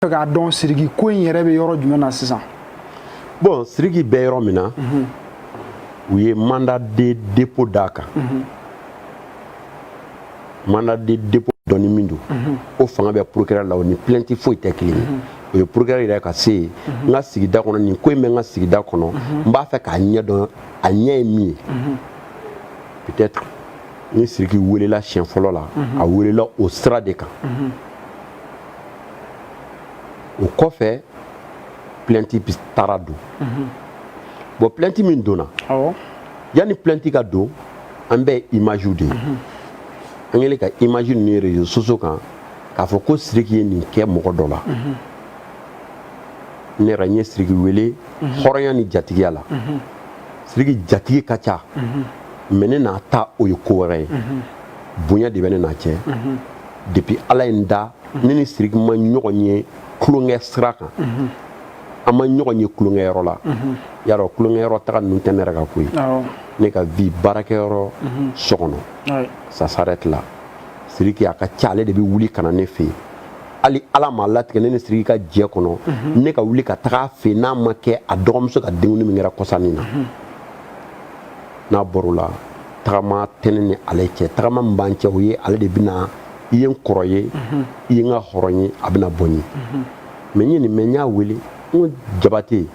fɛ k'a dɔn siriki ko in yɛrɛ bɛ yɔrɔ jumɛn na sisan bɔn siriki bɛ yɔrɔ min na mhm. u ye mandat de dépôt d'a kan mhm. mandat de dépôt donni min don mhm. o fanga bɛ procureur la o ni plɛnti foyi tɛ kelen ye o ye procureur yɛrɛ ka se ye n ka sigida kɔnɔ nin ko in bɛ n ka sigida kɔnɔ n b'a fɛ k'a ɲɛ dɔn a ɲɛ ye min ye peut-être ni siriki welela siɲɛ fɔlɔ la a welela o sira de kan o kɔfɛ plɛnti taara don mhm. bɔn plɛnti min donna yanni plɛnti ka don an bɛɛ ye imaziw de ye mhm. an kɛlen ka imazi ninnu ye réseaux sociaux kan k'a fɔ ko siriki ye nin kɛ mɔgɔ dɔ la mhm. ne yɛrɛ n ye siriki wele hɔrɔnya ni jatigiya la siriki jatigi ka ca mais ne n'a ta o ye ko wɛrɛ ye bonya de bɛ ne n'a cɛ depuis ala ye n da ne ni siriki ma ɲɔgɔn ye tulonkɛ sira kan an ma ɲɔgɔn ye tulonkɛyɔrɔ la y'a dɔn tulonkɛyɔrɔ taga ninnu tɛ ne yɛrɛ ka ko ye ne ka vie baarakɛyɔrɔ so kɔnɔ ça s'arrête là siriki a ka ca ale de bɛ wuli ka na ne fɛ yen hali ala m'a latigɛ ne ni siriki ka jɛ kɔnɔ ne ka wuli ka taga a fɛ yen n'a ma kɛ a dɔgɔmuso ka denkundi min kɛra kɔsa in na n'a bɔr'o la tagama tɛ ne ni ale cɛ tagama min b'an cɛ o ye ale de bɛ na i ye n kɔrɔ ye mhm. i ye n ka hɔrɔn ye a bɛ na bɔ n ye mhm. mais n ye nin mɛn n y'a wele n ko jabate n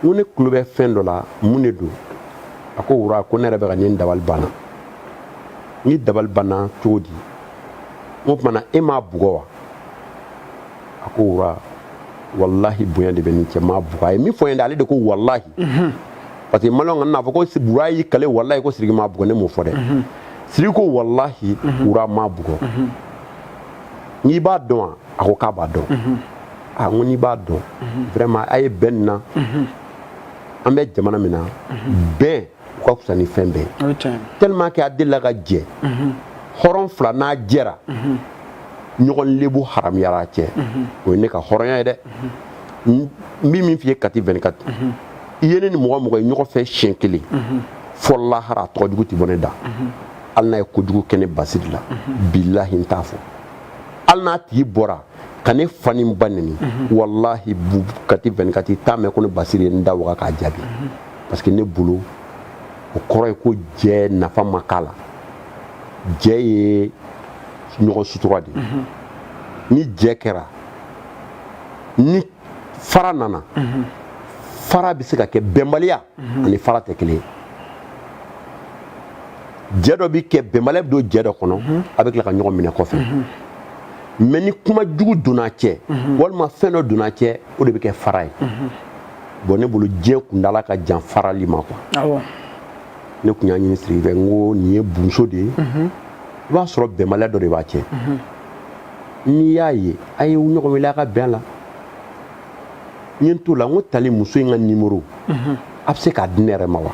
ko ne tulo bɛ fɛn dɔ la mun de don a ko wura ko ne yɛrɛ bɛ ka ne n dabali banna i dabali banna cogo di n k'o tuma na e m'a bugɔ wa a ko wura walahi bonya de bɛ n n'i cɛ n m'a bugɔ a ye min fɔ yen dɛ ale de ko walahi mhm. parce que maliyɛn kana n'a fɔ ko wura y'i kali walahi ko siriki m'a bugɔ ne m'o fɔ dɛ mhm. siriki ko walahi mhm. wura n m'a bugɔ i b'a dɔn wa a ko k'a b'a dɔn a ah, n ko n'i b'a dɔn vraiment a ye bɛn nin na an bɛ jamana min na bɛn o ka fisa ni fɛn bɛɛ ye tellement que a delila ka jɛ hɔrɔn fila n'a jɛra ɲɔgɔn lebu haramuyara a cɛ o ye ne ka hɔrɔnya ye dɛ n bɛ min f'i ye kati 24 i ye ne ni mɔgɔ mɔgɔ ye ɲɔgɔn fɛ siɲɛ kelen fo lahara a tɔgɔ jugu tɛ bɔ ne da hali n'a ye kojugu kɛ ne basiri la bilahi n t'a fɔ hali n'a tigi bɔra ka ne fa ni n ba neni walahi kati 24 t'a mɛn ko ne basiri ye n da waga k'a jaabi parce que ne bolo o kɔrɔ ye ko jɛ nafa ma k'a la jɛ ye ɲɔgɔn sutura de ye mhm. ni jɛ kɛra ni fara nana mhm. fara bɛ se ka kɛ bɛnbaliya mhm. ani fara tɛ kelen ye jɛ dɔ bɛ kɛ bɛnbaliya bɛ don jɛ dɔ kɔnɔ a bɛ tila ka ɲɔgɔn minɛ kɔfɛ mɛ ni kuma jugu donn'a cɛ walima fɛn dɔ donn'a cɛ o de bɛ kɛ fara ye bɔn ne bolo jɛ kuntaala ka jan farali ma quoi ne tun y'a ɲini siriki fɛ n ko nin ye bunso de ye mhm. i b'a sɔrɔ bɛnbaliya dɔ de b'a cɛ mhm. n'i y'a ye a ye ɲɔgɔn wele a ka bɛn la n ye n t'o la n ko tali muso in ka nimoro mhm. a bɛ se k'a di ne yɛrɛ ma wa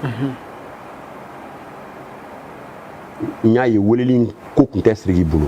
n y'a ye weleli ko tun tɛ siriki bolo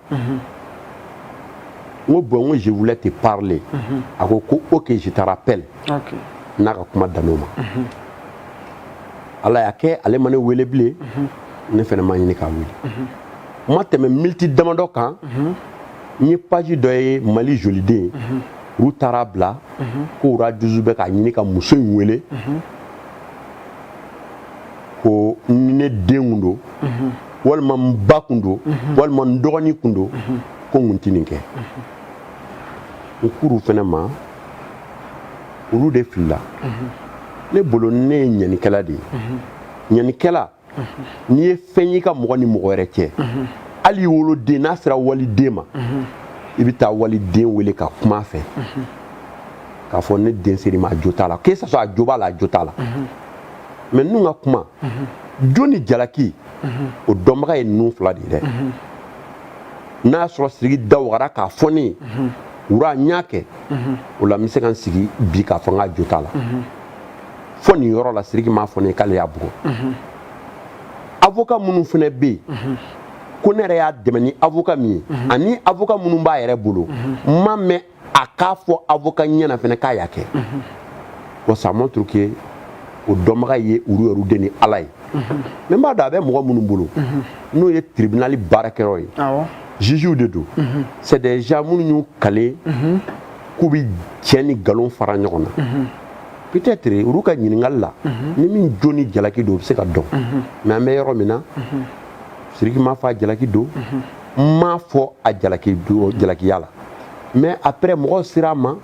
n ko bɔn n ko je voulais te parler a ko ko ok je te rappelle n'a ka kuma dan'o ma ala y'a kɛ ale ma ne wele bilen ne fana ma ɲini k'a wele n ma tɛmɛ miniti damadɔ kan n ye paji dɔ ye mali joliden olu taar'a bila ko roi douze bɛ k'a ɲini ka muso in wele ko ni ne den kun don walima n ba kun don walima n dɔgɔnin kun don ko n kun ti nin kɛ n k'olu fɛnɛ ma olu de filila ne bolo ne ye ɲanikɛla de ye ɲanikɛla n'i ye fɛn y'i ka mɔgɔ ni mɔgɔ wɛrɛ cɛ hali i woloden n'a sera waliden ma i bɛ taa waliden wele ka kuma a fɛ k'a fɔ ne den ser'i ma a jo t'a la que ça soit a jo b'a la a jo t'a la mɛ ninnu ka kuma jo ni jalaki o dɔnbaga ye ninnu fila de ye dɛ n'a y'a sɔrɔ siriki da wagara k'a fɔ ne ye roi n y'a kɛ o la n bɛ se ka n sigi bi k'a fɔ n k'a jo t'a la fɔ nin yɔrɔ la siriki m'a fɔ ne ye k'ale y'a bugɔ avoka minnu fana bɛ yen ko ne yɛrɛ y'a dɛmɛ ni avoka min ye ani avoka minnu b'a yɛrɛ bolo n m'a mɛn a k'a fɔ avocat ɲɛ na fɛnɛ k'a y'a kɛ wa ça montre que o dɔnbaga ye olu yɛrɛ de ni ala ye mɛ n b'a dɔn a bɛ mɔgɔ minnu bolo n'o ye tribunali baarakɛyɔrɔ ye jugew de don c'est des gens minnu y'u kale k'u bɛ tiɲɛ ni nkalon fara ɲɔgɔn na peut-être olu ka ɲininkali la ni min jo ni jalaki don o bɛ se ka dɔn mɛ an bɛ yɔrɔ min na siriki ma f'a jalaki don n m'a fɔ a jalaki don jalakiya la mais après mɔgɔw sera a ma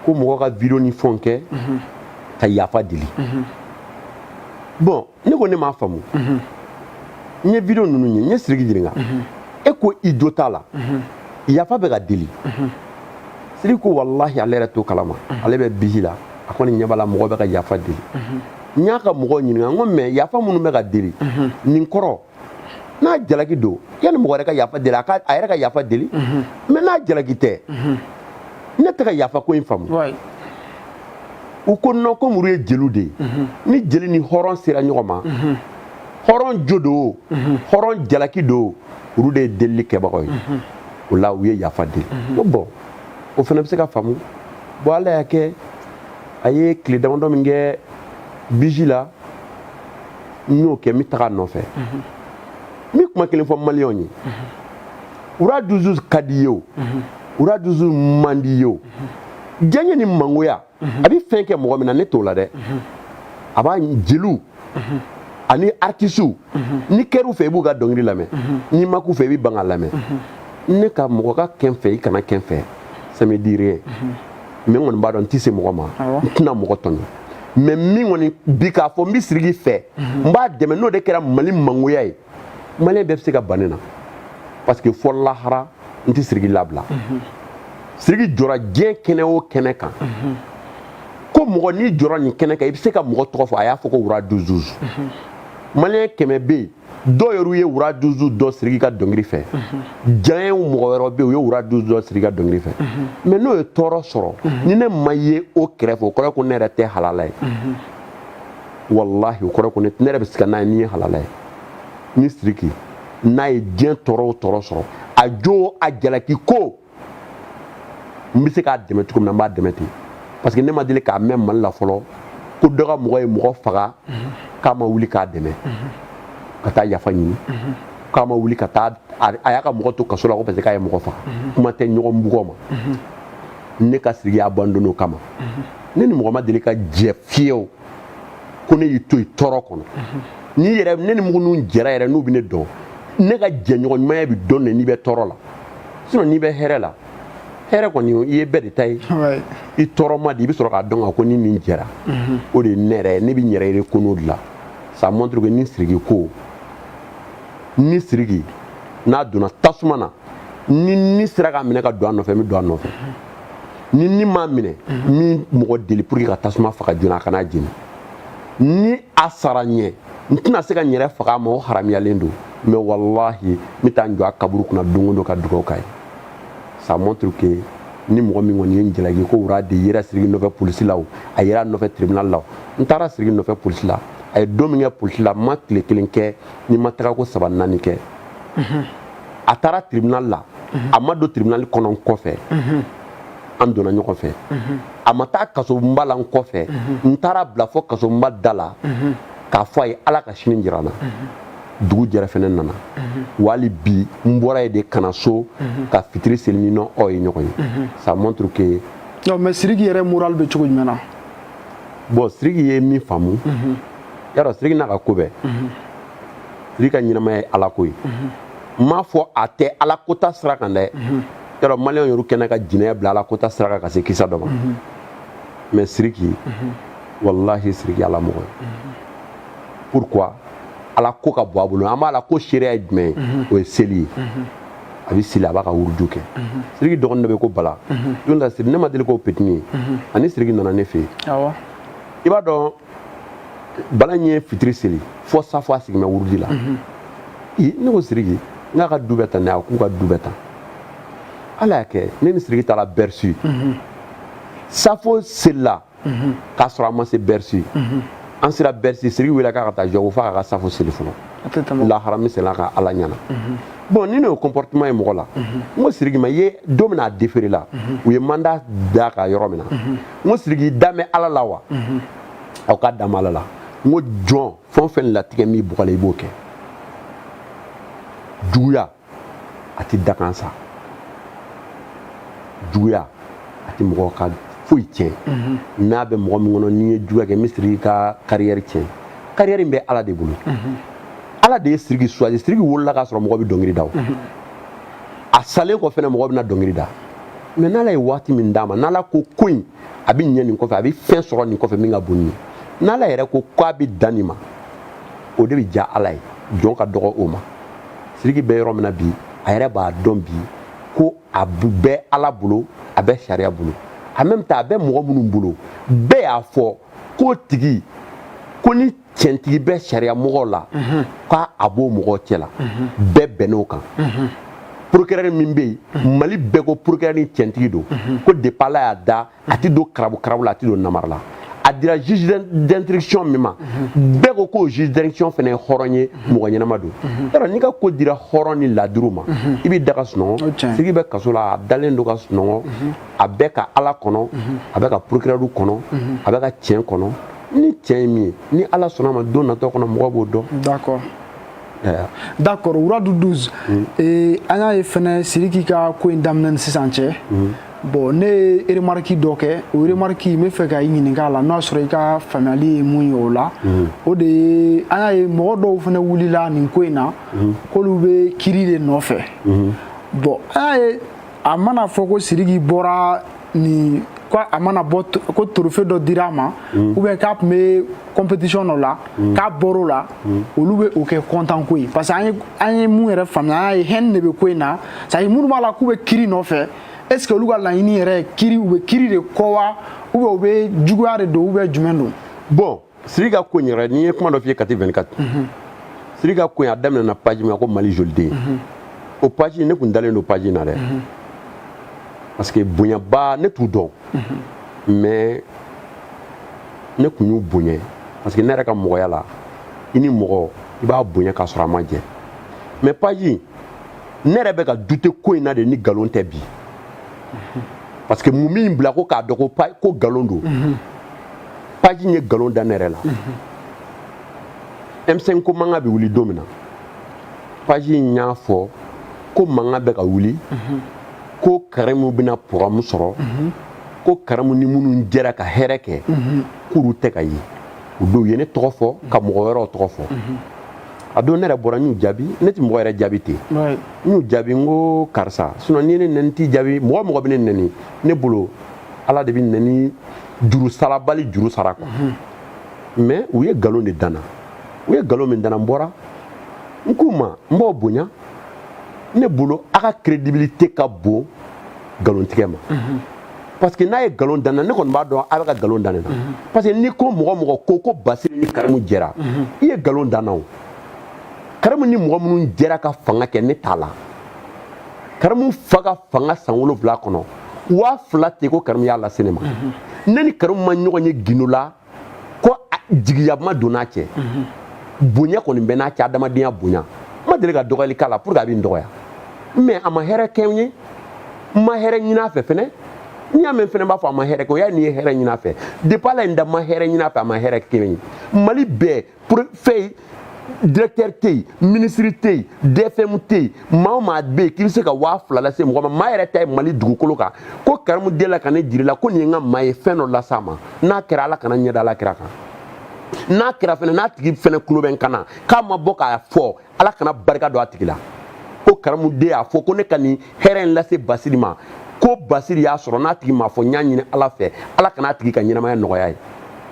ko mɔgɔ ka video ni fɛnw kɛ ka yafa deli bon ne ko ne m'a faamu n ye video ninnu ye n ye siriki ɲininka e ko i jo t'a la yafa bɛ ka deli siri ko walahi ale yɛrɛ t'o kalama ale bɛ biji la a kɔni ɲɛ b'a la mɔgɔ bɛ ka yafa deli n y'a ka mɔgɔw ɲininka n ko mais yafa minnu bɛ ka deli nin kɔrɔ n'a jalaki don yanni mɔgɔ yɛrɛ ka yafa deli a ka a yɛrɛ ka yafa deli mhm. mais n'a jalaki tɛ mhm. ne tɛ ka yafa ko in faamu u ko non comme olu ye jeliw de ye mhm. ni jeli ni hɔrɔn sera ɲɔgɔn ma hɔrɔn jo don hɔrɔn jalaki don olu de ye delili kɛbagaw ye o la u ye yafa deli ko bon o fana bɛ se ka faamu bon ala y'a kɛ a ye tile damadɔ min kɛ biji la n y'o kɛ n bɛ taga a nɔfɛ n bɛ kuma kelen fɔ maliyɛnw ye roi douze ka d'i ye o roi douze man d'i ye o diyaɲɛ ni mangoya a bɛ fɛn kɛ mɔgɔ min na ne t'o la dɛ a b'a jeliw ani artisiw n'i kɛr'u fɛ i b'u ka dɔnkili lamɛn n'i ma k'u fɛ i bɛ ban k'a lamɛn ne ka mɔgɔ ka kɛ n fɛ i kana kɛ n fɛ ça me dit rien mais n kɔni b'a dɔn n tɛ se mɔgɔ ma n tɛna mɔgɔ tɔɲɔ mais min kɔni bi k'a fɔ n bɛ siriki fɛ n b'a dɛmɛ n'o de kɛra mali mangoya ye maliyɛn bɛɛ bɛ se ka ban ne na parce que fo lahara n tɛ siriki labila siriki jɔra diɲɛ kɛnɛ o kɛnɛ kan ko mɔgɔ n'i jɔra nin kɛnɛ kan i bɛ se ka mɔgɔ tɔgɔ fɔ a y'a fɔ ko roi douze douze maliyɛn kɛmɛ bɛ yen dɔw yɛrɛ ye roi douze dɔn siriki ka dɔnkili fɛ diyaɲɛ mɔgɔ wɛrɛ bɛ u ye roi douze dɔn siriki ka dɔnkili fɛ mais n'o ye tɔɔrɔ sɔrɔ ni ne ma ye o kɛrɛfɛ o kɔrɔ ko ne yɛrɛ tɛ halala ye walahi o kɔrɔ ko ne yɛrɛ bɛ sika ni ne ye halala ye ni siriki n'a ye diɲɛ tɔɔrɔ o tɔɔrɔ sɔrɔ a jo a jalaki ko n bɛ se k'a dɛmɛ cogo min na n b'a dɛmɛ ten parce que ne ma deli k'a mɛn mali la fɔlɔ ko dɔ ka mɔgɔ ye mɔgɔ faga k'a ma wuli k'a dɛmɛ ka taa yafa ɲini k'a ma wuli ka taa a y'a ka mɔgɔ to kaso la ko parce que k'a ye mɔgɔ faga kuma tɛ ɲɔgɔn bugɔ ma ne ka siriki abandonner o kama ne ni mɔgɔ ma deli ka jɛ fewu ko ne y'i to i tɔɔrɔ kɔnɔ n'i yɛrɛ ne ni mɔgɔ minnu jɛra yɛrɛ n'u bɛ ne dɔn ne ka jɛɲɔgɔn ɲumanya bɛ dɔn de n'i bɛ tɔɔrɔ la sinon n'i bɛ hɛrɛ la hɛrɛ kɔni i ye bɛɛ de ta ye i tɔɔrɔ ma de i bɛ sɔrɔ k'a dɔn ko i ni nin jɛra mhm. o de ye ne yɛrɛ ye ne bɛ n yɛrɛ yɛrɛ ko n'o de la ça montre que ni siriki ko ni siriki n'a donna tasuma na ni ne sera k'a minɛ ka don a nɔfɛ n bɛ don a nɔfɛ ni ni m'a minɛ n bɛ mɔgɔ deli pour que ka tasuma faga joona a kana jeni ni a sara n ɲɛ n tɛna se ka n yɛrɛ faga a ma o haramuyalen don mais wallahi n bɛ taa n jɔ a kaburu kunna don o don ka dugawu k'a ye ça montre que ni mɔgɔ min kɔni ye n jalaki ko wura de yera siriki nɔfɛ polisi la o a yera nɔfɛ tribunal la o n taara siriki nɔfɛ polisi la a ye don min kɛ polisi la n ma tile kelen kɛ ni n ma taga ko saba naani kɛ a taara tribunal la a ma don tribunal kɔnɔ n kɔfɛ an donna ɲɔgɔn fɛ a ma taa kasobonba la n kɔfɛ n taara a bila fo kasobonba da la k'a fɔ a ye ala ka sini jira an na dugu jɛra fɛnɛ n nana hali bi n bɔra yen de ka na so ka fitiri seli ne n'aw ye ɲɔgɔn ye ça montre que non mais siriki yɛrɛ moral bɛ cogo jumɛn na bon siriki ye min faamu yarɔ siriki n'a ka ko bɛɛ siriki ka ɲɛnamaya ye ala ko ye n m'a fɔ a tɛ ala ko taasira kan dɛ yarɔ maliyɛn yɛrɛ kɛnɛ ka jinɛya bila ala ko taasira kan ka se kisa dɔ ma mais siriki walahi siriki ala mɔgɔ ye pourquoi ala ko ka bon a bolo an bara ala ko seereya ye jumɛn ye o ye seli ye a bɛ seli a b'a ka wuruju kɛ siriki dɔgɔnin dɔ bɛ ko bala don la siri ne ma deli k'o petit nin ye ani siriki nana ne fɛ yen i b'a dɔn bala ɲɛ fitiri seli fo safo a sigilen bɛ wurudi la ne ko siriki n k'a ka du bɛ tan ne a k'u ka du bɛ tan ala y'a kɛ ne ni siriki taara bercy safo selila k'a sɔrɔ an ma se bercy an sera bercy siriki welela k'a ka taa jɔ a ko fo k'a ka safo seli fɔlɔ lahara mi sela ka ala ɲana bon ni ne y'o comportement ye mɔgɔ la n ko siriki ma ye don min a deferela u ye mandat d'a kan yɔrɔ min na n ko siriki i dalen bɛ ala la wa mhm. a k'a dalen bɛ ala la n ko jɔn fɛn o fɛn latigɛlen bɛ i bɔgɔ la i b'o kɛ juguya a tɛ dakan sa juguya a tɛ mɔgɔ ka foyi tiɲɛ mhm. n'a bɛ mɔgɔ min kɔnɔ n'i ye juguya kɛ n bɛ siriki ka kariyɛri tiɲɛ kariyɛri in bɛ ala de bolo mhm. ala de ye siriki suwazi siriki wolola k'a sɔrɔ mɔgɔ bɛ dɔnkili da o a salen kɔ fɛnɛ mɔgɔ bɛna dɔnkili da mais n'ala ye waati min d'a ma n'ala ko ko in a bɛ ɲɛ nin kɔfɛ a bɛ fɛn sɔrɔ nin kɔfɛ min ka bon nin ye n'ala yɛrɛ ko ko a bɛ dan nin ma o de bɛ diya ala ye jɔn ka dɔgɔ o ma siriki bɛ yɔrɔ min na bi a yɛrɛ b'a dɔn bi ko a bɛ ala bolo a bɛ sariya bolo en même temps a bɛ mɔgɔ minnu bolo bɛɛ y'a fɔ k'o tigi kɔni tiɲɛtigi bɛ sariya mɔgɔw la k'a a b'o mɔgɔw cɛ la bɛɛ bɛnn'o kan procureur min bɛ yen mali bɛɛ ko procureur nin tiɲɛtigi don ko depuis ala y'a da a tɛ don karabu karabu la a tɛ don namara la a dira juge d'instruction min ma bɛɛ ko k'o juge d'instruction fana ye hɔrɔn ye mɔgɔ ɲɛnama don yɔrɔ n'i ka ko dira hɔrɔn ni laduru ma i b'i da ka sunɔgɔ siriki bɛ kaso la a dalen don ka sunɔgɔ a bɛ ka ala kɔnɔ a bɛ ka procureur kɔnɔ a bɛ ka tiɲɛ kɔnɔ ni tiɲɛ ye min ye ni ala sɔnna a ma don natɔ kɔnɔ mɔgɔ b'o dɔn d'accord d'accord wuradu 12 mm. eh, an y'a ye fɛnɛ siriki ka ko in daminɛ ni sisan cɛ mm. bon ne ye remarki dɔ kɛ o remarki n bɛ fɛ ka i ɲininka a la n'o y'a sɔrɔ i ka faamuyali ye mun ye o la mm. o de ye an y'a ye mɔgɔ dɔw fɛnɛ wulila nin ko in na k'olu bɛ kiri de nɔfɛ bon an y'a ye a mana fɔ ko siriki bɔra nin ko a mana bɔ ko trophée dɔ dira a ma mm. ou bien k'a tun bɛ compétition dɔ la mm. k'a bɔr'o la mm. olu bɛ o kɛ content ko ye parce que an ye an ye mun yɛrɛ faamuya an y'a ye haine de bɛ ko in na c'est à dire minnu b'a la k'u bɛ kiri nɔfɛ est ce que olu ka laɲini yɛrɛ ye kiri u bɛ kiri de kɔ wa ou bien ou bien juguya de don ou bien jumɛn don bon Siri ka ko yɛrɛ ne ye kuma dɔ f'i ye kati 24 siri ka ko a daminɛna paji min ko mali joliden o paji ne tun dalen don paji na dɛ parce que bonyaba ne t'u dɔn mais ne tun y'u bonya parce que ne yɛrɛ ka mɔgɔya la i ni mɔgɔ i b'a bonya k'a sɔrɔ a ma jɛ mais paji ne yɛrɛ bɛ ka douter ko in na de ni nkalon tɛ bi parce que mun bɛ n bila ko k'a dɔn ko ko nkalon don paji ye nkalon da ne yɛrɛ la emisɛn ko mankan bɛ wuli don min na paji in y'a fɔ ko mankan bɛ ka wuli ko karimu bɛna problème sɔrɔ ko karimu ni minnu jɛra ka hɛrɛ kɛ k'olu tɛ ka ye u don u ye ne tɔgɔ fɔ ka mɔgɔ wɛrɛw tɔgɔ fɔ a don ne yɛrɛ bɔra n y'u jaabi ne tɛ mɔgɔ yɛrɛ jaabi ten n y'u jaabi n ko karisa sinon n'i ye ne nɛni n t'i jaabi mɔgɔ mɔgɔ bɛ ne nɛni ne bolo ala de bɛ nɛni juru sarabali juru sara quoi mais u ye galon de da n na u ye galon min da n na n bɔra n k'u ma n b'aw bonya ne bolo a ka crédibilité ka bon galontigɛ ma parce que n'a ye galon da n na ne kɔni b'a dɔn a bɛ ka galon da ne na parce que n'i ko mɔgɔ mɔgɔ ko ko basiri ni karimu jɛra i ye galon da n na o karimu ni mɔgɔ minnu jɛra ka fanga kɛ ne t'a la karimu fa ka fanga san wolonwula kɔnɔ waa fila tɛ ko karimu y'a lase ne ma ne ni karimu ma ɲɔgɔn ye gindo la ko jigiya ma don n'a cɛ bonya kɔni bɛ n'a cɛ adamadenya bonya n ma deli ka dɔgɔyali k'a la pour que a bɛ n dɔgɔya mais a ma hɛrɛ kɛ n ye n ma hɛrɛ ɲin'a fɛ fɛnɛ n'i y'a mɛn fɛnɛ b'a fɔ a ma hɛrɛ kɛ o y'a n'i ye hɛrɛ ɲin'a fɛ depuis ala ye n da n ma hɛrɛ ɲin'a fɛ a ma hɛrɛ kɛ n ye mali bɛɛ pour fɛn directeur tɛ yen minisiri tɛ yen dfm tɛ yen maa o maa bɛ yen k'i bɛ se ka waa fila lase mɔgɔ ma maa yɛrɛ ta ye mali dugukolo kan ko karimu delila ka ne jir'i la ko nin ye n ka maa ye fɛn dɔ las'a ma n'a kɛra ala kana n ɲɛ da ala kira kan n'a kɛra fɛnɛ n'a tigi fɛnɛ kulo bɛ n kan na k'a ma bɔ k'a fɔ ala kana barika don a tigi la ko karamu de y'a fɔ ko ne ka nin hɛrɛ in lase basiri ma ko basiri y'a sɔrɔ n'a tigi m'a fɔ n y'a ɲini ala fɛ ala kana a tigi ka ɲɛnamaya nɔgɔy'a ye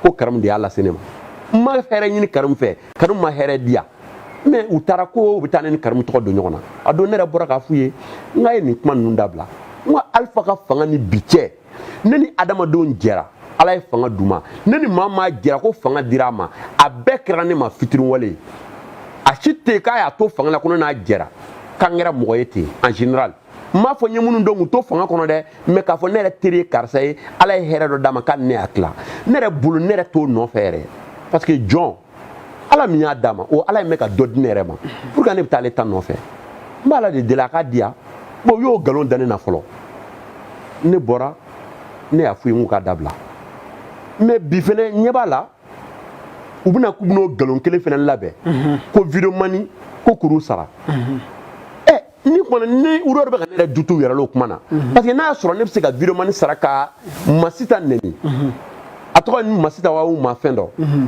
ko karamu de y'a lase ne ma n ma hɛrɛ ɲini karamu fɛ karamu ma hɛrɛ di yan mais u taara ko u bɛ taa ne ni karamu tɔgɔ don ɲɔgɔn na a don ne yɛrɛ bɔra k'a f'u ye n k'a ye nin kuma ninnu dabila n ko alifa ka fanga ni bi cɛ ne ni adamadenw jɛra ala ye fanga d'u ma ne ni maa maa jɛra ko fanga dira a ma a bɛɛ kɛra ne ma fitiriwale ye a si tɛ yen k'a y'a to fanga la ko ne n'a jɛra k'an kɛra mɔgɔ ye ten en général n m'a fɔ n ye minnu dɔn k'u to fanga kɔnɔ dɛ mais k'a fɔ ne yɛrɛ teri ye karisa ye ala ye hɛrɛ dɔ d'a ma k'ale ne y'a tila ne yɛrɛ bolo ne yɛrɛ t'o nɔfɛ yɛrɛ parce que jɔn ala min y'a d'a ma o ala in bɛ ka dɔ di ne yɛrɛ ma pour que ne bɛ taa ale ta nɔfɛ n b'ala de deli a k'a di yan bon u y'o nkalon da ne na fɔlɔ ne bɔra ne y'a f'u ye n k'u k'a dabila mais bi fɛnɛ n ɲɛ b'a la u bɛna k'u bɛn'o nkalon kelen fɛnɛ labɛn ko videomani ko k'olu sara ɛ ni kɔni n'olu bɛ ka ne yɛrɛ doute yɛrɛ l'o kuma na mhm. parce que n'a y'a sɔrɔ ne bɛ se ka videomani sara ka masita nɛni mhm. a tɔgɔ ni masita walima fɛn dɔ mhm.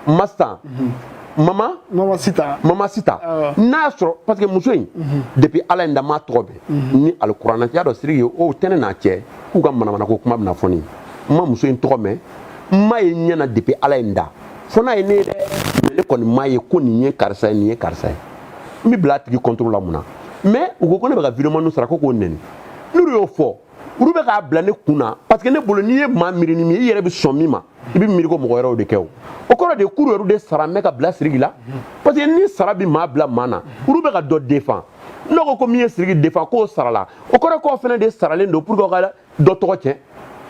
masita mama mama sita mama sita n'a y'a sɔrɔ parce que muso in depuis ala ye n da n m'a tɔgɔ mɛn ni alikuranɛ y'a dɔn siriki ye o tɛ ne n'a cɛ k'u ka manamanako kuma bɛna fɔ ne ye n ma muso in tɔgɔ mɛn n m'a ye ɲɛ na depuis ala ye n da fo n'a ye ne ye dɛ ne kɔni m'a ye ko nin ye karisa ye nin ye karisa ye n bɛ bila a tigi kɔntoro la mun na mais u ko ko ne bɛ ka videomaniw sara ko k'o nɛni n'olu y'o fɔ olu bɛ k'a bila ne kun na parce que ne bolo n'i ye maa miiri ni min i yɛrɛ bɛ sɔn min ma i bɛ miiri ko mɔgɔ wɛrɛw de kɛ o o kɔrɔ de k'olu yɛrɛ de saralen bɛ ka bila siriki la parce que ni sara bɛ maa bila maa na olu bɛ ka dɔ défendre ne ko ko min ye siriki défendre k'o sarala o kɔrɔ k'o fana de saralen don pour que ka dɔ tɔgɔ cɛn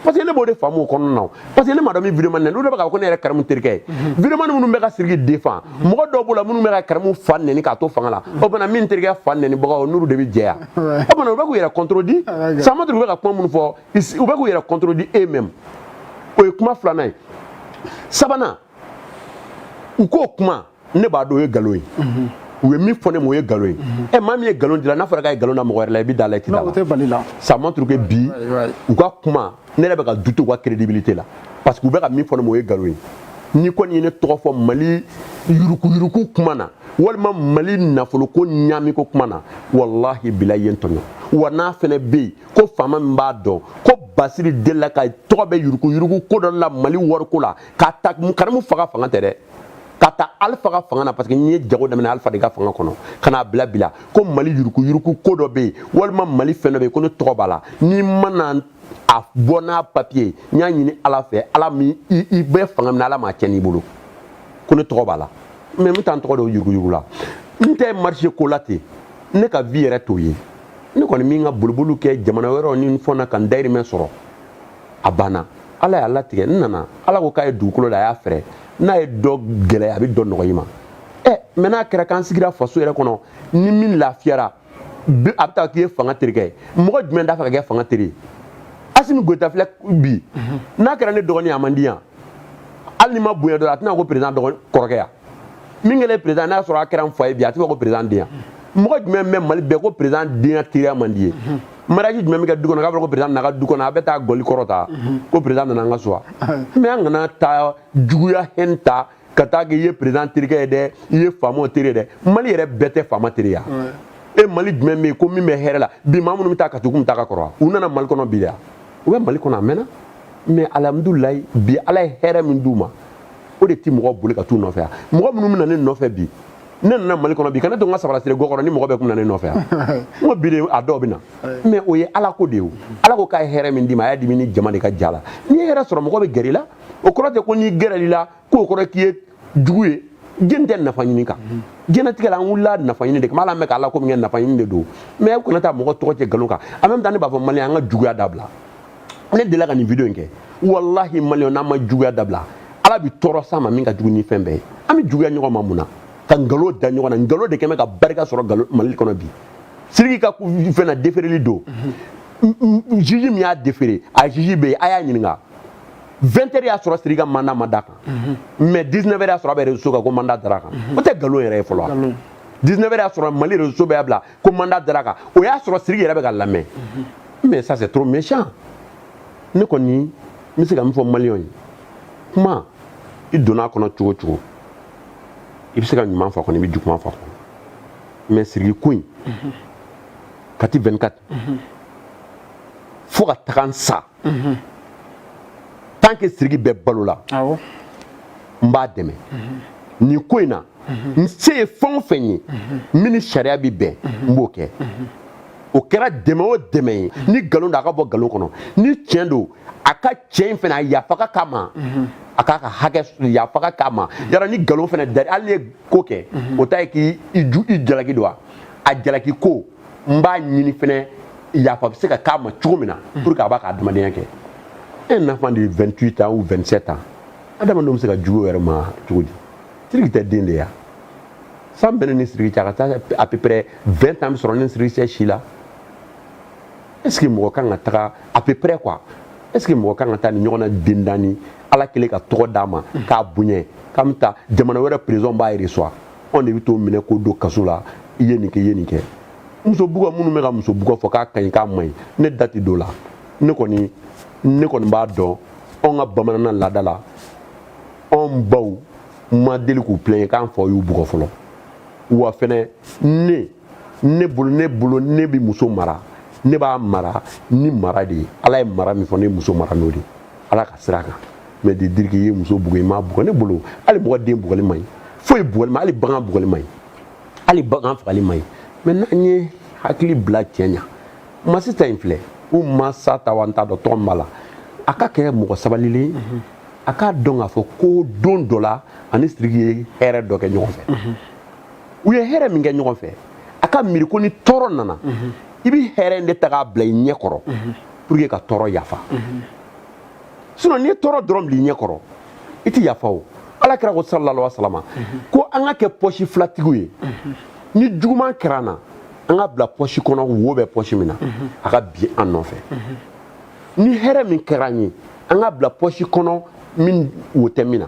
parce que ne b'o de faamu o kɔnɔna na parce que ne m'a dɔn min vidéoman ne olu de bɛ k'a fɔ ko ne yɛrɛ karamu terikɛ ye vidéoman minnu bɛ ka siriki défendre mɔgɔ dɔw b'o la minnu bɛ ka karamu fa nɛni k'a to fanga la o bana min terikɛ fa nɛnibagaw n'olu de bɛ jɛya o bana u bɛ k'u yɛrɛ contredit ça montre u bɛ ka kuma minnu fɔ u bɛ k'u yɛrɛ contredit eux-mêmes o ye kuma filanan ye sabanan u k'o kuma ne b'a dɔn o ye nkalon ye u ye min fɔ ne ma o ye nkalon ye ɛ maa min ye nkalon d'i la n'a fɔra k'a ye nkalon da mɔgɔ wɛrɛ la i bɛ d'a la i tɛ d'a la ça montre que bi u ka kuma ne yɛrɛ bɛ ka douter u ka crédibilité la parce que u bɛ ka min fɔ ne ma o ye nkalon ye n'i kɔni ye ne tɔgɔ fɔ mali yurukuyuruku kuma na walima mali nafoloko ɲaamiko kuma na walahi bilahi i ye n tɔɲɔ wa n'a fɛnɛ bɛ yen ko faama min b'a dɔn ko basiri delila ka tɔgɔ bɛ yurukuyuruku ko dɔ la mali wariko la k'a ta karamu faga fanga tɛ dɛ k'a ta alifa ka fanga na parce que ne ye jago daminɛ alifa de ka fanga kɔnɔ ka n'a bila bi la ko mali yuruku yuruku ko dɔ bɛ yen walima mali fɛn dɔ bɛ yen ko ne tɔgɔ b'a la n'i ma na a bɔ n'a papiye n y'a ɲini ala fɛ ala min i bɛ fanga min na ala m'a cɛn i bolo ko ne tɔgɔ b'a la mais n bɛ taa n tɔgɔ don yuruku yuruku la n tɛ marché ko la ten ne ka vie yɛrɛ t'o ye ne kɔni bɛ n ka boliboliw kɛ jamana wɛrɛw ni n fɔ na ka n dayirimɛ sɔrɔ a banna ala y'a latigɛ n nana ala ko k'a ye dugukolo da a y'a fɛrɛ n'a ye dɔ gɛlɛya a bɛ dɔ nɔgɔya i ma ɛ mais n'a kɛra k'an sigira faso yɛrɛ kɔnɔ ni min lafiyara a bɛ taa k'i ye fanga terikɛ ye mɔgɔ jumɛn t'a fɛ ka kɛ fanga teri ye asimi goyita filɛ bi n'a kɛra ne dɔgɔnin a man di yan hali ni ma bonya dɔrɔn a tɛna ko perezidan kɔrɔkɛ yan min kɛlen président n'a sɔrɔ a kɛra n fa ye bi a tɛ fɔ ko président den yan mɔgɔ jumɛn bɛ mali bɛɛ ko président den ya teriya man d'i ye mariage jumɛn bɛ kɛ du kɔnɔ k'a fɔra ko président nana du kɔnɔ a bɛ taa gɔli kɔrɔta ko président nana an ka so wa mais an kana taa juguya hɛn ta ka taa kɛ i ye président terikɛ ye dɛ i ye faamaw teri ye dɛ mali yɛrɛ bɛɛ tɛ faama teri ya e mali jumɛn bɛ yen ko min bɛ hɛrɛ la bi maa minnu bɛ taa katugu min taa ka kɔrɔ u nana mali kɔnɔ bi de ya u bɛ mali kɔnɔ a mɛnna mais alhamdulilayi bi ala ye hɛrɛ min d'u ma o de ti mɔgɔ boli ka t'u nɔfɛ yan mɔgɔ minnu bɛna ne nɔfɛ bi ne nana mali kɔnɔ bi ka ne to n ka sabara sire ko kɔnɔ ni mɔgɔ bɛɛ tun na ne nɔfɛ yan n ko bi de a dɔw bɛ na mais o ye ala ko de ye ala ko k'a ye hɛrɛ min d'i ma a y'a d'i ma ni jama de ka ja la n'i ye hɛrɛ sɔrɔ mɔgɔ bɛ gɛrɛ i la o kɔrɔ tɛ ko n'i gɛrɛ i la k'o kɔrɔ k'i ye jugu ye jɔni tɛ nafa ɲini kan diɲɛlatigɛ la an wulila nafa ɲini de kama hali an bɛ k'ala ko min kɛ nafa ɲini de don mais u kana taa mɔgɔ tɔgɔ cɛn nkalon kan an bɛ taa ne b'a fɔ mali an ka juguya dabila ne delila ka nin video in kɛ walahi maliyɛn n'an ma juguya dabila ala bi tɔɔrɔ s'an ma min ka jugu ni fɛn bɛɛ ye an bɛ juguya ɲɔgɔn ma mun na ka nkalon da ɲɔgɔn na nkalon de kɛ bɛ ka barika sɔrɔ nkalon mali kɔnɔ bi siriki ka fɛn na defereli don juge min y'a defere a juge bɛ yen a y'a ɲininka 20 heures y'a sɔrɔ siriki ka mandat ma da a kan mais 19 heures y'a sɔrɔ a bɛ réseau kan ko mandat dara a kan o tɛ nkalon yɛrɛ ye fɔlɔ 19 heures y'a sɔrɔ mali réseau bɛɛ y'a bila ko mandat dara a kan o y'a sɔrɔ siriki yɛrɛ bɛ ka lamɛn mais ça c'est trop méchant ne kɔni n bɛ se ka min fɔ maliyɛnw ye kuma i donna a kɔnɔ cogo cogo i bɛ se ka ɲuman fɔ kɔnɔ i bɛ juguman fɔ kɔnɔ mais siriki ko in k'a ta 24 fo ka taga n sa tant que siriki bɛ balo la n b'a dɛmɛ nin ko in na n se ye fɛn o fɛn ye min ni sariya bɛ bɛn n b'o kɛ o kɛra dɛmɛ o dɛmɛ ye ni nkalon don a ka bɔ nkalon kɔnɔ ni tiɲɛ don a ka tiɲɛ in fana a yafa ka k'a ma a k'a ka hakɛ yafa ka k'a ma yala ni nkalon fana dari hali n'i ye ko kɛ o ta ye k'i i jalaki don wa a jalaki ko n b'a ɲini fɛnɛ yafa bɛ se ka k'a ma cogo min na mm. pour que a b'a ka adamadenya kɛ un enfant de 28 ans ou 27 ans adamadenw bɛ se ka jugu yɛrɛ ma cogo di siriki tɛ den de ya san bɛ ne ni siriki cɛ a ka taa à peu près 20 ans bɛ sɔrɔ ne siriki cɛ si la est ce que mɔgɔ kan ka taga à peu près quoi est ce que mɔgɔ kan ka taa nin ɲɔgɔnna den danni ala kɛlen ka tɔgɔ d'a ma mm. k'a bonya k'an bɛ taa jamana wɛrɛ président b'a yɛrɛ sɔrɔ anw de bɛ t'o minɛ k'o don kaso la i ye nin kɛ i ye nin kɛ muso bugɔ minnu bɛ ka muso bugɔ fɔ k'a ka ɲi k'a man ɲi ne da tɛ don o la ne kɔni ne kɔni b'a dɔn anw ka bamananna laada la anw baw ma deli k'u pilɛɲɛ k'an faw y'u bugɔ fɔlɔ wa fɛnɛ ne ne bolo ne bolo ne bɛ muso mara ne b'a mara ni mara de ye ala ye mara min fɔ ne ye muso mara n'o de ye ala ka sira kan mais de dire k'i ye muso bugɔ i m'a bugɔ ne bolo hali mɔgɔ den bugɔli man ɲi foyi bugɔli ma hali bagan bugɔli man ɲi hali bagan fagali man ɲi mais n'an ye hakili bila tiɲɛ na masita in filɛ ou masata wa n t'a dɔn tɔgɔ min b'a la a ka kɛ mɔgɔ sabalilen mhm. a k'a dɔn k'a fɔ ko don dɔ la a ni siriki ye hɛrɛ dɔ kɛ ɲɔgɔn fɛ mhm. u ye hɛrɛ min kɛ ɲɔgɔn fɛ a ka miiri ko ni tɔɔrɔ nana mhm. i bɛ hɛrɛ in de ta k'a bila i ɲɛ kɔrɔ pour que ka tɔɔrɔ yafa sinon n'i ye tɔɔrɔ dɔrɔn bil'i ɲɛ kɔrɔ i tɛ yafa o ala kira ko sallallahu alaihi wasallam ko an ka kɛ pɔsi filatigiw ye ni juguman kɛra an na an k'a bila pɔsi kɔnɔ wo bɛ pɔsi min na a ka bin an nɔfɛ ni hɛrɛ min kɛra an ye an k'a bila pɔsi kɔnɔ min wo tɛ min na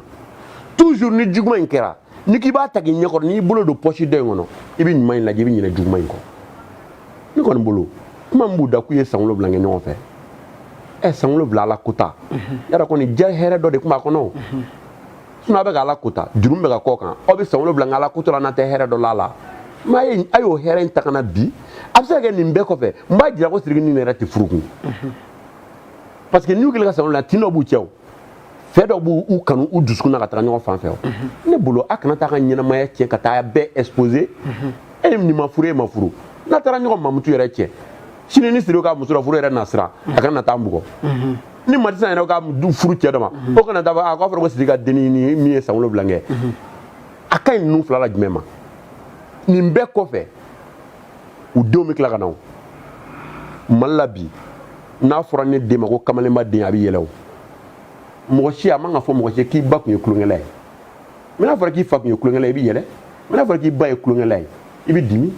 toujours ni juguman in kɛra n'i k'i b'a ta k'i ɲɛkɔrɔ n'i bolo don pɔsi dɔ in kɔnɔ i bɛ ɲuman in lajɛ i bɛ ɲinɛ juguman in kɔ ne kɔni bolo kuma min b'u da k'u ye san wolonwula kɛ ɲɔgɔn fɛ ɛ san wolonwula ala kota yala kɔni diya hɛrɛ dɔ de tun b'a kɔnɔ o sinon a bɛ ka ala kota juru bɛ ka kɔ kan aw bɛ san wolonwula nka ala koto la n'a tɛ hɛrɛ dɔ la la m'a ye a y'o hɛrɛ in ta ka na bi a bɛ se ka kɛ nin bɛɛ kɔfɛ n b'a jira ko siriki nin yɛrɛ tɛ furu kun parce que n'u kɛlen ka san wolonwula tin dɔ b'u cɛ o fɛn dɔ b'u u kanu u dusukun na ka taga ɲɔgɔn fan fɛ ne bolo a kana taa ka ɲɛnamaya tiɲɛ ka taa bɛɛ exposer e nin ma furu e ma furu n'a taara ɲɔgɔn mamutu yɛrɛ cɛ sini ni siri ka muso la furu yɛrɛ na siran a kana na taa mɔgɔ ni matisan yɛrɛ ka furu cɛ dɔ ma o kana taa a k'a fɔra ko siri ka dennin nin min ye san wolonwula kɛ a ka ɲi ninnu fila la jumɛn ma nin bɛɛ kɔfɛ u denw bɛ tila ka na o mali la bi n'a fɔra ne den ma ko kamalenba den a bɛ yɛlɛ o mɔgɔ si a man ka fɔ mɔgɔ si k'i ba tun ye tulonkɛla ye mais n'a fɔra k'i fa tun ye tulonkɛla ye i bɛ yɛlɛ mais n'a fɔra k'i ba ye tulonkɛla ye i bɛ dimi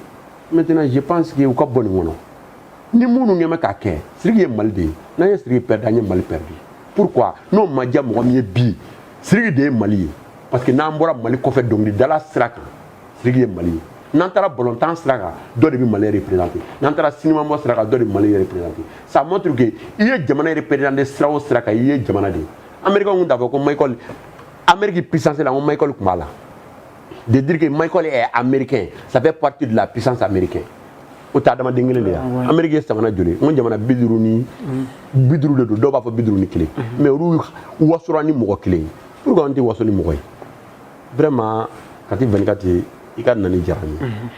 maintenant je pense que u ka bɔ nin kɔnɔ ni minnu kɛ bɛ k'a kɛ siriki ye mali de ye n'an ye siriki pɛridi an ye mali pɛridi pourquoi n'o ma diya mɔgɔ min ye bi siriki de ye mali ye parce que n'an bɔra mali kɔfɛ dɔnkilidala sira kan siriki ye mali ye n'an taara balɔntan sira kan dɔ de bɛ mali représente n'an taara sinimabɔ sira kan dɔ de bɛ mali représente ça montre que i ye jamana représente sira o sira kan i ye jamana de ye américain tun t'a fɔ ko michael amérique puissance la ko michael tun b'a la de dire que michael est américain ça fait partie de la puissance américaine o tɛ adamaden kelen de ye ah, amérique ye jamana joli n ko jamana bi duuru ni bi duuru de don dɔw b'a fɔ bi duuru ni kelen mais olu wasora ni mɔgɔ kelen ye pourquoi an tɛ waso ni mɔgɔ ye vraiment Kati 24 i ka nali diyara n ye n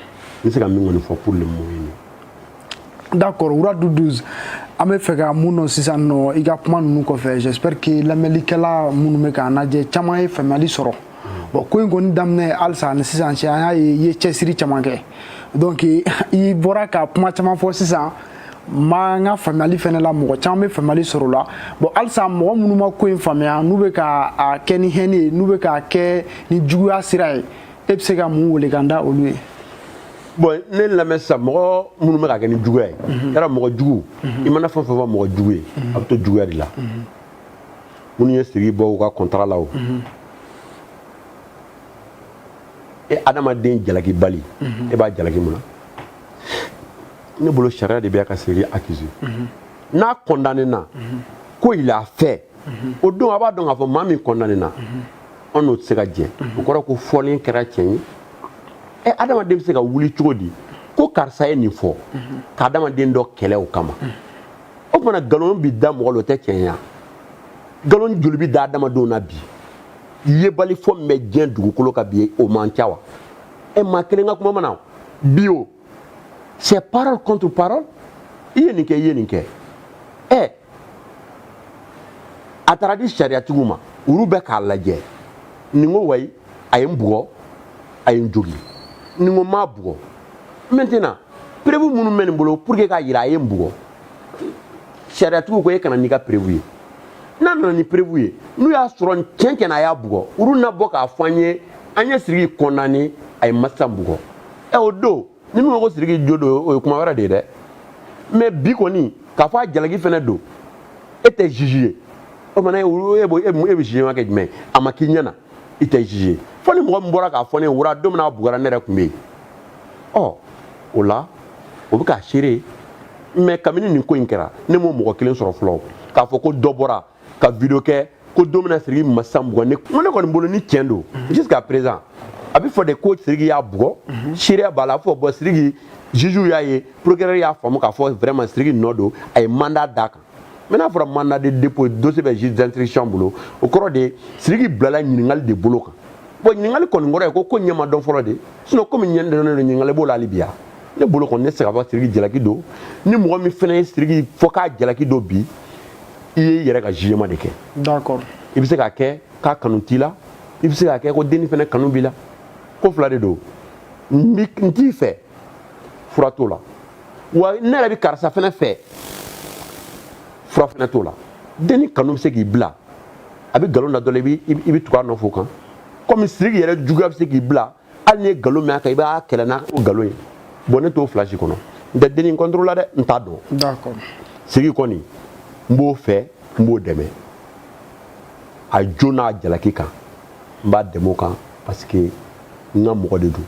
bɛ se ka min kɔni fɔ pour le moment ye nin d'accord wura du 12 an b'a fɛ ka mun dɔn sisan nɔ i ka kuma ninnu kɔfɛ j'espère que lamɛnlikɛla minnu bɛ k'an lajɛ caman ye faamuyali sɔrɔ bon ko in kɔni daminɛ halisa ani sisan cɛ an y'a ye i ye cɛsiri caman kɛ donc i bɔra ka kuma caman fɔ sisan ma n ka faamuyali fɛnɛ la mɔgɔ caman bɛ faamuyali sɔrɔ o la bon halisa mɔgɔ minnu ma ko in faamuya n'u bɛ ka a kɛ ni haine ye n'u bɛ k'a kɛ ni juguya sira ye e bɛ se ka mun welekan da olu ye bon ne lamɛn sisan mɔgɔ minnu bɛ k'a kɛ ni juguya ye yala mɔgɔ jugu i mana fɛn o fɛn fɔ mɔgɔ jugu ye a bɛ to juguya de la minnu ye siriki bɔ u ka kɔntara la o e adamaden jalakibali e b'a jalaki mun na ne bolo sariya de bɛ ka siriki accusé mhm. n'a condamné na mhm. ko il a fait mhm. o don a b'a dɔn k'a fɔ maa min condamné na an n'o tɛ se ka jɛ o kɔrɔ ko fɔlen kɛra tiɲɛ ye ɛ adamaden bɛ se ka wuli cogo di ko karisa ye nin fɔ ka adamaden dɔ kɛlɛ o kama o tuma na nkalon bɛ da mɔgɔ la o tɛ tiɲɛ ye nkalon joli bɛ da adamadenw na bi yebalifɔ min bɛ diɲɛ dugukolo kan bi o man ca wa ɛ maa kelen ka kuma mana bi o c'est parole contre parole i ye nin kɛ i ye nin kɛ ɛ a taara di sariyatigiw ma olu bɛ k'a lajɛ nin ko wayi a ye n bugɔ a ye n jogi nin ko n m'a bugɔ maintenant preuve minnu bɛ nin bolo pour que k'a jira a ye n bugɔ sariyatigiw ko e ka na n'i ka preuve ye n'a nana ni preuve ye n'u y'a sɔrɔ tiɲɛ tiɲɛ na a y'a bugɔ olu na bɔ k'a fɔ an ye an ye siriki condamné a ye masa bugɔ ɛ o don ni min ko siriki jo don o ye kuma wɛrɛ de ye dɛ mais bi kɔni k'a fɔ a jalaki fɛnɛ don e tɛ juge ye o mana e bɛ jugement kɛ jumɛn a ma k'i ɲɛ na i tɛ juge ye fo ni mɔgɔ min bɔra k'a fɔ ne voilà don min na a bugɔra ne yɛrɛ tun bɛ yen ɔ o la o bɛ k'a seere mais kabini nin ko in kɛra ne m'o mɔgɔ kelen sɔrɔ fɔlɔ k'a fɔ ko dɔ bɔra ka video kɛ ko don min na siriki ma san bugɔ ne ko ne kɔni bolo ni tiɲɛ don jusqu'à présent a bɛ fɔ de ko siriki y'a bugɔ seereya b'a la a fɔ bon siriki juge y'a ye procureur y'a faamu k'a fɔ vraiment siriki nɔ don a ye mandat d'a kan mais n'a fɔra mandat de dépôt dossier bɛ juge d'instruction bolo o kɔrɔ de siriki bilala ɲininkali de bolo kan bon ɲininkali kɔni kɔrɔ ye ko ko ɲɛ ma dɔn fɔlɔ de sinon ko min ɲɛ dɔnnen don ɲininkali b'o la hali bi ya ne bolo kɔni ne tɛ se k'a fɔ siriki jalaki don ni mɔgɔ min fana ye siriki fɔ k'a jalaki don bi i ye i yɛrɛ ka jugement de kɛ d'accord i bɛ se k'a kɛ k'a kanu t'i la i bɛ se k'a kɛ ko denni fana kanu b'i la ko fila de don n t'i fɛ fura t'o la wa ne yɛrɛ bɛ karisa fana fɛ fura fana t'o la denni kanu bɛ se k'i bila a bɛ nkalon da dɔ la i bɛ tugu a nɔfɛ o kan komi siriki yɛrɛ juguya bɛ se k'i bila hali i ye nkalon mɛn a kan i b'a kɛlɛ n'o nkalon ye bon ne t'o place kɔnɔ n tɛ denni contre la dɛ n t'a dɔn siriki kɔni n b'o fɛ n b'o dɛmɛ a jo n'a jalaki kan n b'a dɛmɛ o kan parce que n ka mɔgɔ de don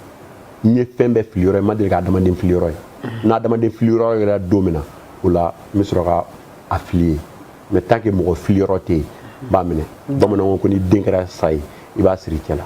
n ye fɛn bɛɛ fili yɔrɔ ye n ma deli ka adamaden fili yɔrɔ ye n na adamaden fili yɔrɔ ye don min na o la n bɛ sɔrɔ ka a fili yen mais tant que mɔgɔ fili yɔrɔ tɛ yen n b'a minɛ bamananw ko n'i den kɛra sa ye i b'a siri i cɛ la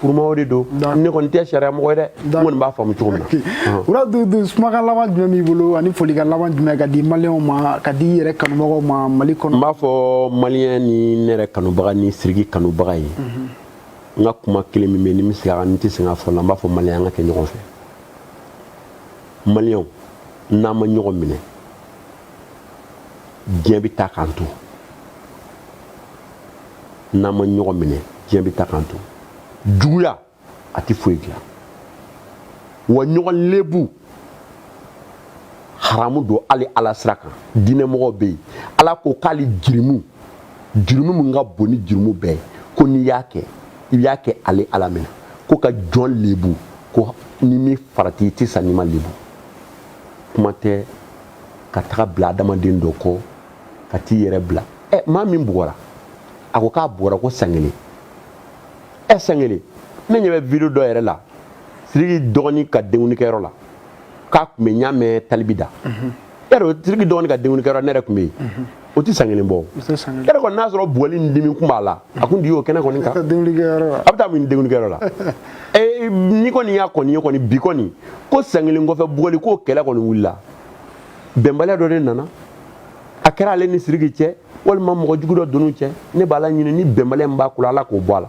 pour moi de don ne kɔni tɛ sariya mɔgɔ ye dɛ n kɔni b'a faamu cogo min na voilà dudu kumakan laban jumɛn b'i bolo ani folikan laban jumɛn ka di maliyɛnw ma ka di i yɛrɛ kanubagaw ma mali kɔnɔ n b'a fɔ maliyɛn ni ne yɛrɛ kanubaga ni siriki kanubaga ye n ka kuma kelen min bɛ ni n bɛ segin a kan n tɛ sɛgɛn a fɔ la n b'a fɔ maliyɛn an ka kɛ ɲɔgɔn fɛ maliyɛnw n'an ma ɲɔgɔn minɛ diɲɛ bɛ taa k'an to n'an ma ɲɔgɔn minɛ diɲɛ bɛ taa k'an to juguya a tɛ foyi dilan wa ɲɔgɔn lebu haramu don hali ala sira kan diinɛmɔgɔw bɛ yen ala ko k'ale jurumu jurumu min ka bon ni jurumu bɛɛ ye ko n'i y'a kɛ i y'a kɛ ale ala minɛ ko ka jɔn lebu ko ni min farati i tɛ sa n'i ma lebu kuma tɛ ka taga bila adamaden dɔ kɔ ka t'i yɛrɛ bila ɛ maa min bugɔra a ko k'a bugɔra ko san kelen ɛ san kelen ne ɲɛ bɛ video dɔ yɛrɛ la siriki dɔgɔnin ka denkundikɛyɔrɔ la k'a tun bɛ n y'a mɛn talibi da yarɔ siriki dɔgɔnin ka denkundikɛyɔrɔ ne yɛrɛ tun bɛ yen o tɛ san kelen bɔ yɛrɛ kɔni n'a sɔrɔ bugɔli ni dimi kun b'a la a kun di y'o kɛnɛ kɔni kan a bɛ taa mun denkundikɛyɔrɔ la eh, ne kɔni y'a kɔni ye kɔni bi kɔni ko san kelen kɔfɛ bugɔli ko kɛlɛ kɔni wulila bɛnbaliya dɔ de nana a kɛra ale ni siriki cɛ walima mɔgɔ jugu dɔ don u cɛ ne b'ala ɲini ni bɛnbaliya min b'a ko la ala k'o bɔ a la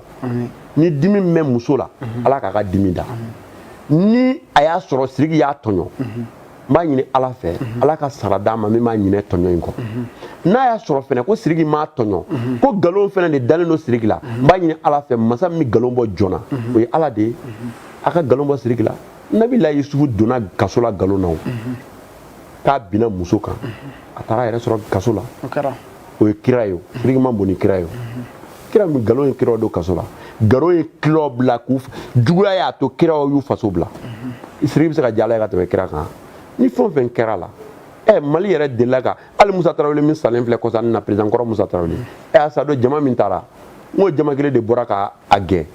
ni dimi min bɛ muso la ala k'a ka dimi da ni a y'a sɔrɔ siriki y'a tɔɲɔ n b'a ɲini ala fɛ ala ka sara d'a ma min b'a ɲinɛ tɔɲɔ in kɔ n'a y'a sɔrɔ fɛnɛ ko siriki m'a tɔɲɔ ko nkalon fɛnɛ de dalen don siriki la n b'a ɲini ala fɛ masa min bɛ nkalon bɔ joona o ye ala de ye a ka nkalon bɔ siriki la nabila yusufu donna kaso la nkalon na o k'a binna muso kan a taara yɛrɛ sɔrɔ kaso la o ye kira ye siriki man bon ni kira ye kira min nkalon ye kiraw don kaso la nkalon ye kiraw bila ko jugu la y'a to kiraw y'u faso bila siriki bɛ se ka diya ala ye ka tɛmɛ kira kan ni fɛn o fɛn kɛra la ɛ mali yɛrɛ delila ka hali musa tarawele min salen filɛ kɔsa in na peresidan kɔrɔ musa tarawele ɛ a sa don jama min taara n ko jama kelen de bɔra ka a gɛn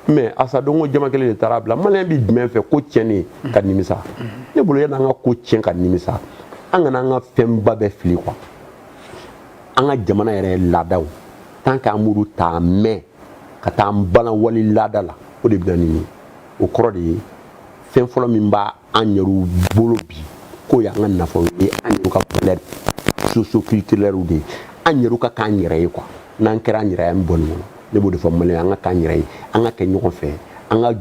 mɛ a sa don ko jama kelen de taar'a bila maliyɛn bi jumɛn fɛ ko tiɲɛni ka nimisa ne bolo yanni an ka ko tiɲɛ ka nimisa an kana an ka fɛnba bɛɛ fili quoi an ka jamana yɛrɛ laadaw tan k'an b'olu ta mɛn ka taa an balan wali laada la o de bɛ na ni o kɔrɔ de ye fɛn fɔlɔ min b'a an yɛrɛw bolo bi k'o y'an ka nafolo ye an yɛrɛw ka valeur socio-culturelle de ye an yɛrɛw ka k'an yɛrɛ ye quoi n'an kɛra an yɛrɛ ye an bɛ bɔ nin kɔnɔ ne b'o de fɔ maliyɛn an ka k'an yɛrɛ ye an ka kɛ ɲɔgɔn fɛ an ka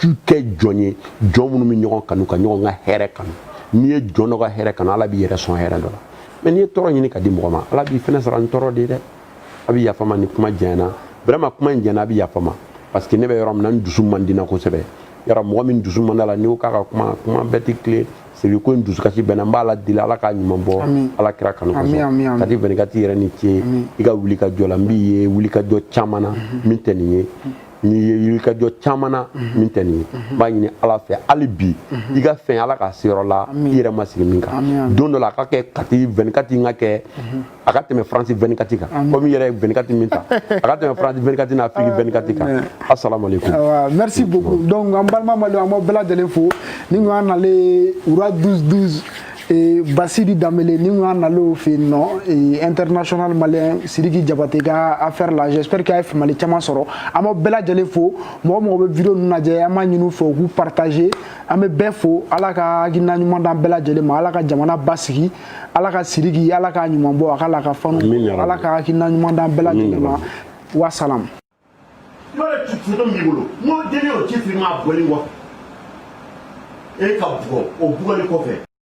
ju kɛ jɔn ye jɔn minnu bɛ ɲɔgɔn kanu ka ɲɔgɔn ka hɛrɛ kanu n'i ye jɔn dɔ ka hɛrɛ kanu ala b'i yɛrɛ sɔn hɛrɛ dɔ la mɛ n'i ye tɔɔrɔ ɲini ka di mɔgɔ ma ala b'i fɛnɛ sara ni tɔɔrɔ de ye dɛ a bɛ yafa n ma ni kuma janyana vraiment kuma in janyana a bɛ yafa n ma parce que ne bɛ yɔrɔ min na n dusu man di n na kosɛbɛ yɔrɔ mɔgɔ min dusu man d'a la n'i ko k'a ka kuma kuma bɛɛ tɛ tilen sabu ko in dusukasi bɛnna n b'ala deli ala k'a ɲuman bɔ ala kira kanu kosɔn kati vingt-quatre yɛrɛ i ni ce i ka wuli ka jɔ la n b'i ye wuli ka jɔ caman na mhm. min tɛ nin ye mhm. n'i ye wuli ka jɔ caman na mhm. min tɛ nin ye n b'a ɲini ala fɛ hali bi i ka fɛn ala k'a se yɔrɔ la i yɛrɛ ma sigi min kan don dɔ la a ka kɛ kati vingt-quatre n ka kɛ a ka tɛmɛ faransi vingt-quatre kan komi i yɛrɛ ye vingt-quatre min ta a ka tɛmɛ faransi vingt-quatre n'afiriki vingt-quatre kan asalaamalekum merci beaucoup donc an balima mali an b'aw bɛɛ lajɛlen fo ni ŋa nale ura 12 12 e, basiri danbele ni ŋa nale o fɛ yen nɔ e, international malien sidiki jabate ka affaire la j'espère que a ye faamuyali caman sɔrɔ an b'aw bɛɛ lajɛlen fo mɔgɔ o mɔgɔ bɛ video ninnu lajɛ an b'a ɲini u fɛ u k'u partager an bɛ bɛɛ fo ala ka hakilina ɲuman d'an bɛɛ lajɛlen ma ala ka jamana basigi ala ka siriki ala k'a ɲuman bɔ a ka la ka fanu ala ka hakilina ɲuman d'an bɛɛ lajɛlen ma wasalam yɔrɔ ci firiman b'i bolo n'o deni o ci firiman bɔli kɔfɛ e ka bugɔ o bugɔli kɔfɛ